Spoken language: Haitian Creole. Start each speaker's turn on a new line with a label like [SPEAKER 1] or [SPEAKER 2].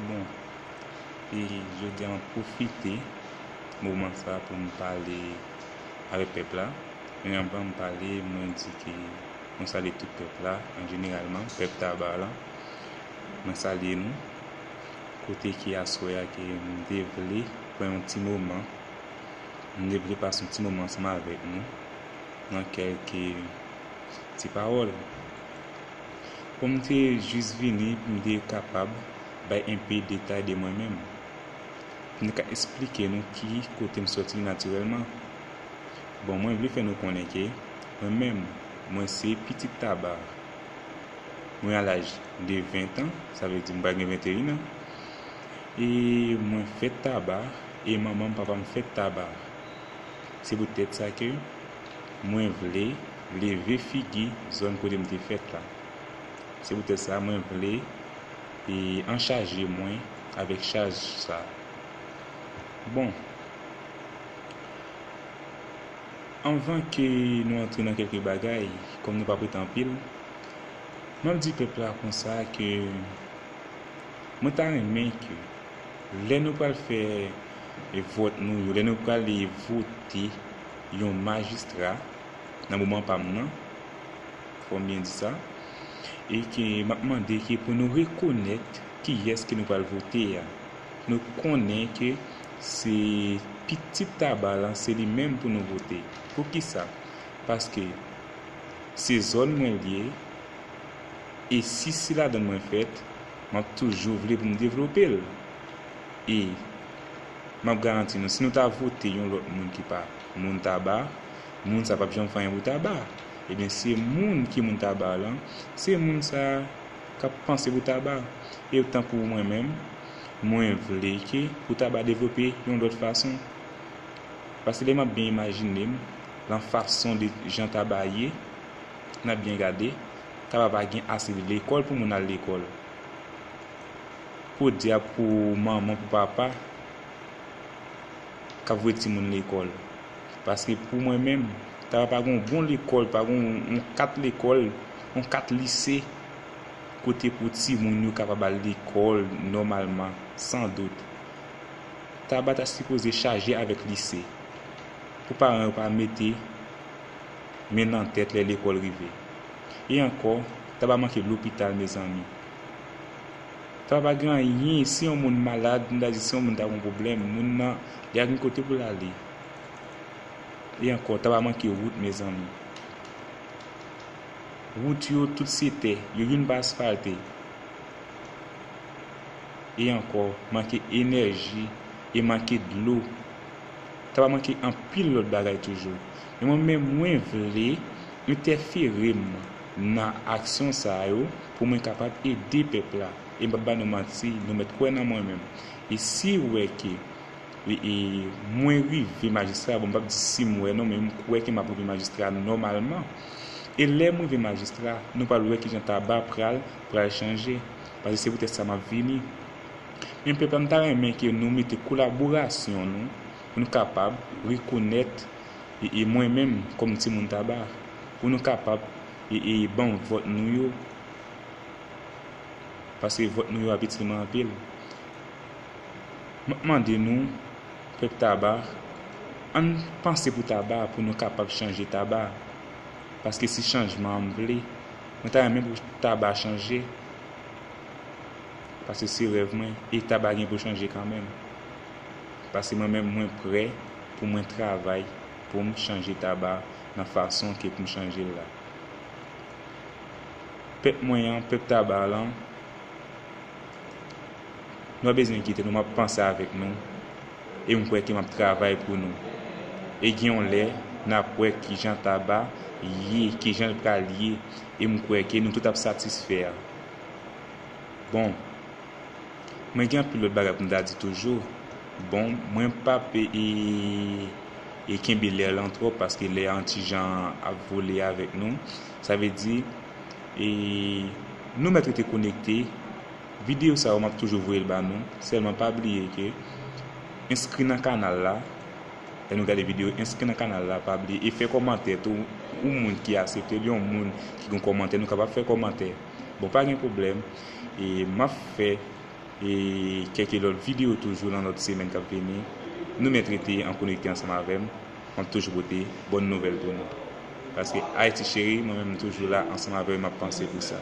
[SPEAKER 1] Bon, e jodi a mwen pwofite moman sa pou m pale avèk pèp la. Men anvan m pale, mwen di ke mwen salye tout pèp la an jeneralman, pèp Taba la. Mwen salye nou. Kote ke aswè a ke m te vle pran yon ti moman, m te vle pase yon ti moman ansanm avèk nou nan kèlke ti pawòl. Kòm m te jis vini pou m te kapab bay enpe detay de mwen menm, pou m te ka esplike nou ki kote m sòti natirèlman, bon mwen vle fè nou konnen ke mwen menm mwen se pitit Taba, mwen a laj de 20 tan, sa vle di m pral gen 21 an, e mwen fèt Taba e manman m papa m fèt Taba. Se pou tèt sa ke mwen vle leve figi zòn kote m te fèt la. Se poutèt sa mwen vle e an chaje mwen avèk chaj sa. Bon, anvan ke nou antre nan kèlke bagay, kòm nou pap rete anpil, mwen ap di pèp la konsa ke mwen ta renmen ke lè nou pral fè vòt nou yo, lè nou prale vote yon majistra, nan moman pa m nan, fò m byen di sa, e ke m ap mande ke pou nou rekonèt kiyès ke nou pral vote a. Nou konnen ke se pitit Taba lan, se li menm pou nou vote. Pou ki sa? Paske se zòn mwen l ye, e si se ladan l mwen fèt, m ap toujou vle pou m devlope l. E m ap garanti nou, si nou ta vote yon lòt moun ki pa moun Taba, Moun sa pap janm fè anyen pou taba. Ebyen se moun ki moun taba lan, se moun sa kap panse pou taba. E tankou mwen menm, mwen vle ke pou taba devlope yon lòt fason. Paske lè map byen imajine m, lan fason de jan taba ye, nan byen gade, taba pa gen ase de lekòl pou moun al lekòl. Podyab pou manman, pou papa kap voye timoun lekòl. Paske pou mwen menm, ta pa gen yon bon lekòl, pa gen yon kat lekòl, yon kat lise kote pou timoun yo kapab al lekòl nòmalman, san dout. Taba ta sipoze chaje avèk lise, pou paran yo pa mete men nan tèt lè lekòl rive. E ankò, Taba manke lopital mezanmi. Taba pa gen anyen, si yon moun malad, nou ta di si yon moun ta gen yon pwoblèm, moun nan li pa gen kote pou l ale. E ankò, ta va manke wout mezanmi. Wout yo tout se tè, yo youn pa asfalte. E ankò, manke enèji e manke dlo. Ta va manke anpil lòt bagay toujou. Men mwen menm mwen vle entèfere m nan aksyon sa yo pou mwen kapab ede pèp la. E m p ap ba nou manti, nou mèt kwè nan mwen menm. E si w wè ke. Mwen rive majistra bon m pap di sim wè non men m kwè ke map rive majistra nòmalman e lèm rive majistra nou pral wè kijan taba pral pral chanje pase se poutèt sa map vini men pèp la m ta renmen ke nou mete kolaborasyon nou pou nou kapab rekonèt e mwen menm kòm ti moun taba pou nou kapab e banm vòt nou yo pase vòt nou yo ap itil mwen anpil. M ap mande nou, pèp Taba, ann panse pou Taba pou nou kapab chanje Taba. Paske se chanjman m vle. Mwen ta renmen pou Taba chanje. Paske se rèv mwen. E Taba gen pou chanje kanmenm. Paske mwen menm mwen prè pou mwen travay pou m chanje Taba nan fason ke pou m chanje l la. Pèp mwen an, pèp Taba lan. Mwen bezwen kite nou map panse avèk nou e m kwè ke map travay pou nou e gen yon lè nap wè kijan Taba ye kijan l pral ye e m kwè ke nou tout ap satisfè bon mwen gen anpil lòt bagay pou m ta di toujou bon mwen pap e kenbe lè lan twòp paske lè an ti jan ap vole avèk nou sa vle di e nou mèt rete konekte. Video sa yo map toujou voyel ba nou selman pa bliye ke enskri nan kanal la lè nou gade video enskri nan kanal la pa bliye e fè komantè tou yon moun ki aseptel yon moun ki gon komantè nou kapab fè komantè bon pa gen pwoblèm e map fè e kèke lòt video toujou nan lòt semèn kap vini nou mèt rete an konekte ansanm avèm map toujou pote bòn nouvèl pou nou paske Haïti Chérie mwen menm toujou la ansanm avèw e map panse pou sa.